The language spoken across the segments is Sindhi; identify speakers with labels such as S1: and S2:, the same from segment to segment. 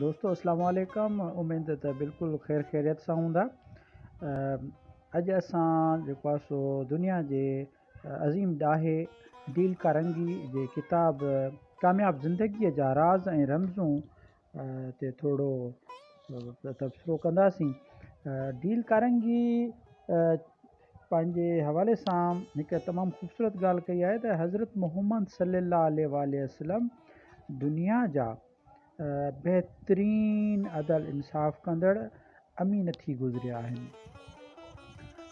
S1: دوستو السلام عليڪم اميد ته بلڪل خير خيريت سان هوندا اڄ اسان جيڪو آهي سو دنيا جي عظيم ڏاهي ڊيل ڪارنگي جي ڪتاب ڪامياب زندگيء جا راز ۽ رمزون تي ٿورو تبصرو ڪنداسين ڊيل ڪارنگي پنهنجي حوالي سان هڪ تمام خوبصورت ڳالهه ڪئي آهي ته حضرت محمد صلي الله عليه واٰله وسلم دنيا جا بهترين عدل انصاف ڪندڙ امين ٿي گذريا آهن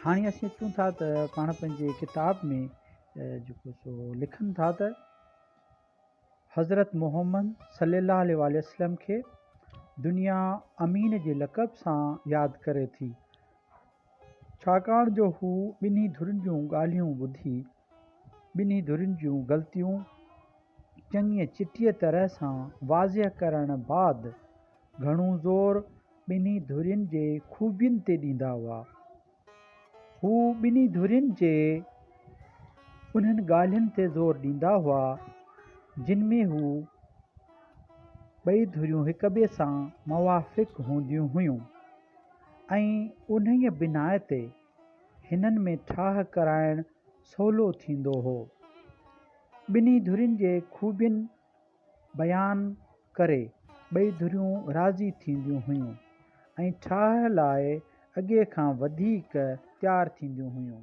S1: هاڻي اسين اچون ٿا ته پاڻ پنهنجي ڪتاب ۾ جيڪو سو لکن ٿا ته حضرت محمد صلي الله عليه واٰله وسلم کي دنيا امين جي لقب سان ياد ڪري ٿي ڇاڪاڻ جو هو ٻنهي ڌرين جون ڳالهيون ٻڌي ٻنهي ڌرين جون غلطيون چڱيء چٽيء طرح سان واضح ڪرڻ بعد گهڻو زور ٻنهي ڌرين جي خوبين تي ڏيندا هئا. هو ٻنهي ڌرين جي انهن ڳالهين تي زور ڏيندا هئا جن ۾ هو ٻئي ڌريون هڪٻئي سان موافق هونديون هيون. ۽ انهيء بناء تي هنن ۾ ٺاهه ڪرائڻ سولو ٿيندو هو. ٻنهي ڌرين جي خوبين بيان ڪري ٻئي ڌريون راضي ٿينديون هيون ۽ ٺاهه لاء اڳي کان وڌيڪ تيار ٿينديون هيون.